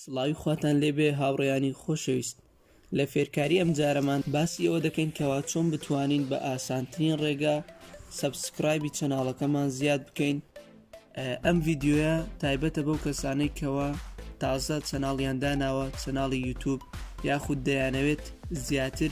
سڵاوی خواتان لێبێ هاوڕێیانی خۆشەویست لە فێرکاری ئەم جارەمان باسی ئەوە دەکەین کەوا چۆن بتوانین بە ئاسانترین ڕێگا سەبسکرایبی چەناڵەکەمان زیاد بکەین ئەم ڤیددیوە تایبەتە بەو کەسانەی کەوە تازە چەناڵیان داناوە چەناڵی یوتوب یاخود دەیانەوێت زیاتر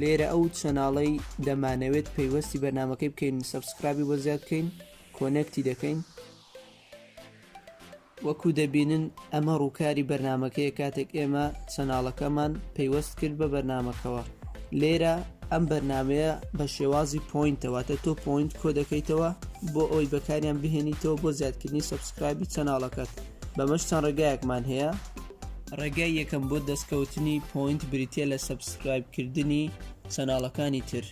لێرە ئەو چەناڵەی دەمانەوێت پەیوەستی بەرنمەکەی بکەین سبسکرابی بۆ زیاد بکەین کۆنەکتی دەکەین وەکو دەبینن ئەمە ڕووکاری بەرنمەکەی کاتێک ئێمە چەناڵەکەمان پەیوەست کرد بە بەرنمەکەەوە لێرە ئەم بەرنمەیە بە شێوازی پوینتەوەتە تۆ پوینت کۆ دەکەیتەوە بۆ ئەوی بەکاریان بهێنیتەوە بۆ زیادکردنی سبسکرابی چەناڵەکەت بەمەش چەند ڕێگایەکمان هەیە ڕێگای یەکەم بۆ دەستکەوتنی پۆینت بریتە لە سەبسکرایب کردنی چەناڵەکانی تر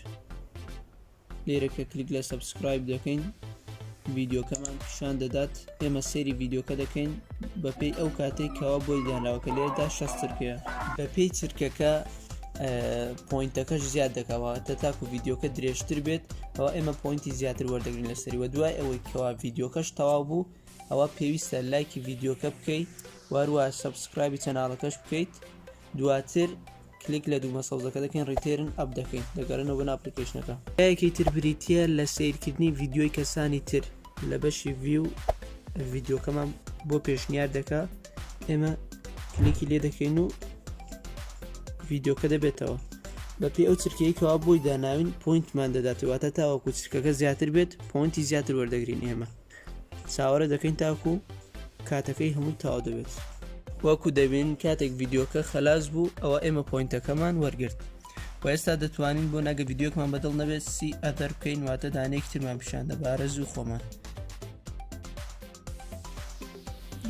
لێرە کە کلیک لە سەبسکرایب دەکەین ڤیددیوکەمان پیشان دەدات ئێمە سێری ڤیددیوکە دەکەین بەپێی ئەو کاتێک کەوا بۆی دانراوکە لێردا شەسترکەیە بەپێی چرکەکە پوینتەکەش زیاد دەکەواتە تاکو ڤیددیوکە درێژتر بێت ئەوە ئێمە پوینتی زیاتر وەردەگرین لەسەری وە دوای ئەوەی کەوا ڤیددیوکەش تەواو بوو ئەوە پێویستە لایکی ڤیددیوکە بکەیت وهروها سەبسکرایبی چەنالەکەش بکەیت دواتر کلیک لە دومە سەوزەکە دەکەین ڕیتێرن ئەپ دەکەین دەگەرنەوە بەناو ئەپلیکەیشنەکە یەکێکی تر بریتیە لە سەیرکردنی ڤیدیۆی کەسانی تر لە بەشی ڤیو ڤیدیۆکەمان بۆ پێشنیار دەکا ئێمە کلیکی لێ دەکەین و ڤیدیۆکە دەبێتەوە بەپی ئەو چرکەی کەوا بۆی داناوین پوینتمان دەداتواتە تاوەکو چرکەکە زیاتر بێت پوینتی زیاتر وەردەگرین ئێمە چاوەڕێ دەکەین تاکو کاتەکەی هەمووی تاوا دەبێت وەکو دەبین کاتێک ڤیددیوکە خلاص بوو ئەوە ئێمە پوینتەکەمان وەرگرت و ئێستا دەتوانین بۆ نەگە ڤیددیوکمان بەدڵ نەبێت سی ئەتەر بکەین واتە دانێک ترمان پیشان دەبارە زوو خۆمان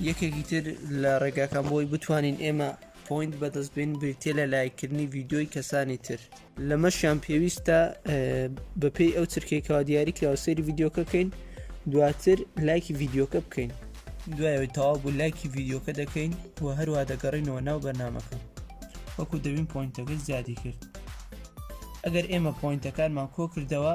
یەکێکی تر لە ڕێگاکان بۆی بتوانین ئێمە پوینت بەدەست بین بریتە لە لایکردنی ڤیددیوی کەسانی تر لەمەشیان پێویستە بەپێی ئەو چرکەی کەوا دیاری کراوە سەیری ڤیددیوکە بکەین دواتر لایکی ڤیددیوکە بکەین دوایەوەی تەواو بوو لایکی ڤیددیوکە دەکەین و هەروە دەگەڕینەوە ناو بەرنمەکە وەکو دەبین پوینتەکە زیادی کرد ئەگەر ئێمە پوینتەکانمان کۆ کردەوە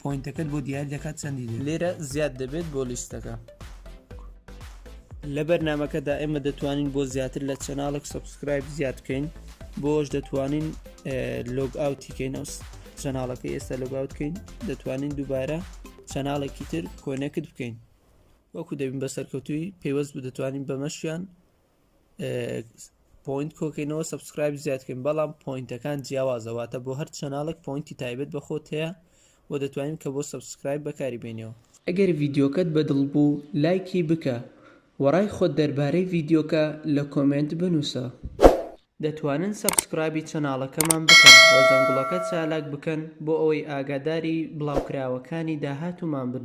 پۆینتەکەت بۆ دیاری دەکات چەندی دێت لێرە زیاد دەبێت بۆ لیستەکە لە بەرنمەکەدا ئێمە دەتوانین بۆ زیاتر لە چەناڵێک سبسکرایب زیاد بکەین بۆش دەتوانین لۆگ ئاوتیکەین ئەو چەناڵەکە ئێستا لۆگاوت بکەین دەتوانین دووبارە چەناڵێکی تر کۆنەکت بکەین وەکو دەبین بە سەرکەوتوی پێوەست بە دەتوانین بەمەشیان پوینت کۆکەینەوە سبسکرایب زیادکەین بەڵام پوینتەکان جیاوازەواتە بۆ هەر چەناڵێک پوینتی تایبەت بە خۆت هەیە و دەتوانین کە بۆ سبسکرایب بەکاری بێنیەوە ئەگەر ڤیدیۆکەت بەدڵ بوو لایکی بکە و ڕای خۆت دەربارەی ڤیدیۆکە لە کۆمێنت بنووسە. دەتوانن سەبسکرایبی چەناڵەکەمان بکەن و زەنگوڵەکە چالاک بکەن بۆ ئەوەی ئاگاداری بڵاوکراوەکانی داهاتوومان بن.